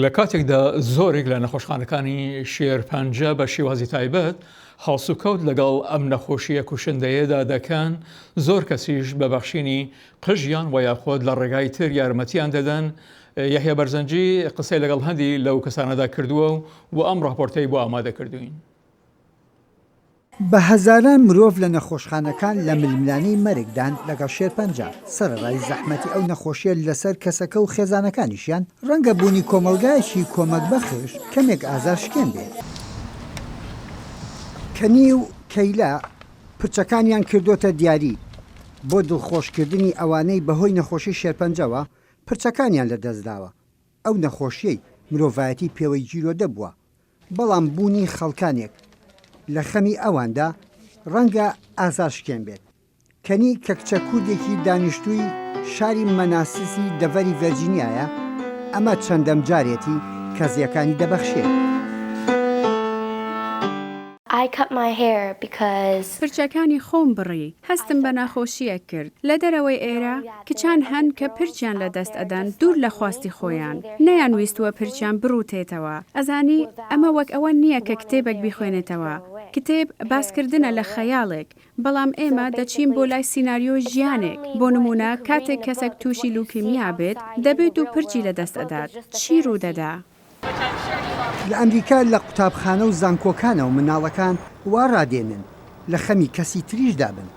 لە کاتێکدا زۆرێک لە نەخۆشخانەکانی شێرپەنجە بە شێوازی تایبەت هەڵسوکەوت لەگەڵ ئەم نەخۆشیە کوشندەیەدا دەکەن، زۆر کەسیش بە بەخشینی قژیان وە یاخۆد لە ڕێگای تر یارمەتیان دەدەن، یەحیا بەرزنجی قسەی لەگەڵ هەندی لەو کەسانەدا کردووە و ئەم ڕاپۆرتەی بۆ ئامادەکردووین. بە هەزاران مرۆڤ لە نەخۆشخانەکان لە ململانێی مەرگدان لەگەڵ شێرپەنجە، سەرەڕای زەحمەتی ئەو نەخۆشییە لەسەر کەسەکە و خێزانەکانیشیان، ڕەنگە بوونی کۆمەڵگایەکی کۆمەکبەخش کەمێک ئازارشکێن بێت. کەنی و کەیلا پرچەکانیان کردۆتە دیاری بۆ دڵخۆشکردنی ئەوانەی بەهۆی نەخۆشی شێرپەنجەوە پرچەکانیان لەدەستداوە، ئەو نەخۆشییەی مرۆڤایەتی پێوەی گیرۆدە بووە بەڵام بوونی خەڵکانێک لە خەمی ئەواندا ڕەنگە ئازارشکێن بێت. کەنی کە کچە کوردێکی دانیشتووی شاری مەناسسی دەڤەری ڤێرجینیایە، ئەمە چەندەم جارێتی کە زێکانی دەبەخشێت. I cut my hair because. پرچەکانی خۆم بڕی. هەستم بە ناخۆشییەک کرد. لە دەرەوەی ئێرە، کچان هەن کە پرچیان لە دەست ئەدەن دوور لە خواستی خۆیان. نەیانویستووە پرچیان بڕووتێتەوە. ئەزانی، ئەمە وەک ئەوە نییە کە کتێبێک بیخوێنێتەوە. کتێب، باسکردنە لە خەیاڵێک. بەڵام ئێمە دەچین بۆ لای سیناریۆی ژیانێک. بۆ نموونە، کاتێک کەسێک تووشی لوکیمیا بێت، دەبێت و پرچی لە دەست ئەدات، چی ڕوو دەدا؟ لە ئەمریکا لە قوتابخانە و زانکۆکانەوە منداڵەکان وا ڕادێنن لە خەمی کەسی تریشدا بن.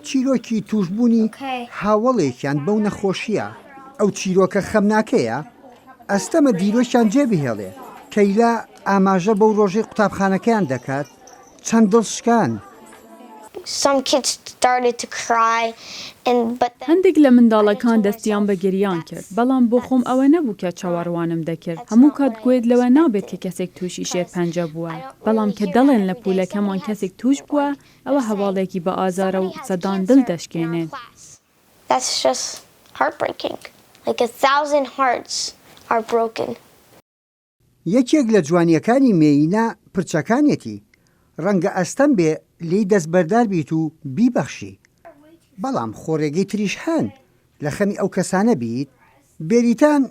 چیرۆکی تووشبوونی هاوەڵێکیان بەو نەخۆشییە. ئەو چیرۆکە خەمناکەیە ئەستەمە دیرۆکیان جێبهێڵێ. کەیلا ئاماژە بەو ڕۆژەی قوتابخانەکەیان دەکات، چەند دڵ شکان. هەندێک لە منداڵەکان دەستیان بە گریان کرد، بەڵام بۆ خۆم ئەوە نەبوو کە چاوەڕوانم دەکرد. هەموو کات گوێت لەوە نابێت کە کەسێک تووشی شێرپەنجە بووە، بەڵام کە دەڵێن لە پوولەکەمان کەسێک تووش بووە، ئەوە هەواڵێکی بەئازارە و سەدان دڵ دەشکێنێت. یەکێک لە جوانییەکانی مێیینە پرچەکانێتی، ڕەنگە ئەستەم بێ لێی دەستبەردار بیت و بیبەخشی، بەڵام خۆڕێگەی تریش هەن لە خەمی ئەو کەسانە بیت، بێریتان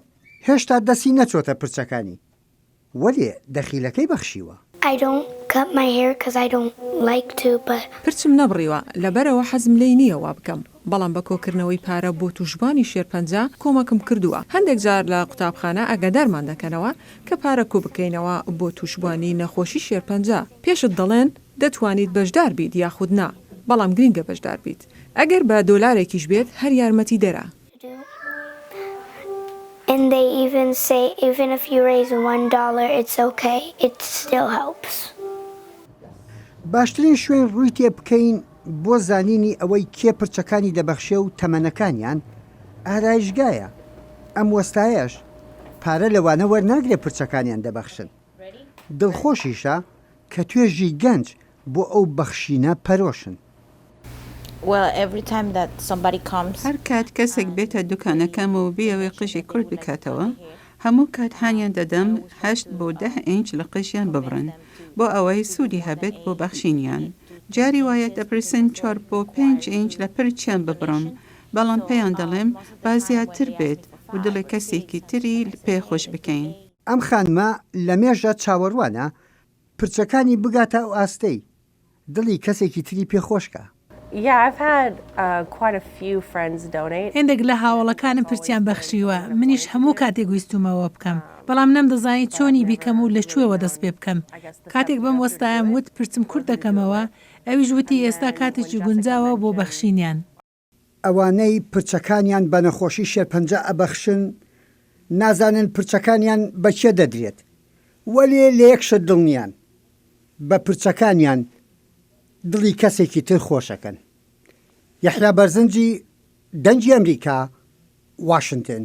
هێشتا دەستی نەچۆتە پرچەکانی، وەلێ دەخیلەکەی بەخشیوە. I don't cut my hair cuz I don't like to but. پرچم نەبڕیوە لەبەرئەوە حەزم لێی نییە وابکەم. بەڵام بە کۆکردنەوەی پارە بۆ تووشبوانی شێرپەنجە کۆمەکم کردووە، هەندێک جار لە قوتابخانە ئاگادارمان دەکەنەوە کە پارە کۆبکەینەوە بۆ تووشبوانی نەخۆشی شێرپەنجە، پێشت دەڵێن دەتوانیت بەشدار بیت یاخود نا، بەڵام گرنگە بەشدار بیت، ئەگەر بە دۆلارێکیش بێت هەر یارمەتیدەرە. باشترین شوێن ڕووی تێ بکەین بۆ زانینی ئەوەی کێ پرچەکانی دەبەخشێ و تەمەنەکانیان ئارایشگایە، ئەم وەستایەش پارە لەوانە وەرناگرێ پرچەکانیان دەبەخشن، دڵخۆشیشە کە توێژی گەنج بۆ ئەو بەخشینە پەرۆشن. هەرکات کەسێک بێتە دوکانەکەم و بیەوێ قژی کورت بکاتەوە، هەموو کات هانیان دەدەم هەشت بۆ دە ئینچ لە قژیان ببڕن بۆ ئەوەی سوودی هەبێت بۆ بەخشینیان. جاری وایە دەپرسن چوار بۆ پێنج ئینچ لە پرچیان ببڕم، بەڵام پێیان دەڵێم با زیاتر بێت و دڵی کەسێکی تری پێ خۆش بکەین. ئەم خانمە لەمێژە چاوەڕوانە پرچەکانی بگاتە ئەو ئاستەی دڵی کەسێکی تری پێ خۆشکە. هێندێک لە هاوەڵەکانم پرچیان بەخشیوە، منیش هەموو کاتێک ویستومەوە بکەم، بەڵام نەمدەزانی چۆنی بیکەم و لە کوێوە دەست پێ بکەم. کاتێک بەم وەستایەم وت پرچم کورت دەکەمەوە، ئەویش وتی ئێستا کاتێکی گونجاوە بۆ بەخشینیان. ئەوانەی پرچەکانیان بە نەخۆشی شێرپەنجە ئەبەخشن نازانن پرچەکانیان بە کێ دەدرێت، وەلێ لە یەک شت دڵنیان، بە پرچەکانیان دڵی کەسێکی تر خۆشەکەن. یەحیا بەرزنجی، دەنگی ئەمریکا، واشنتن.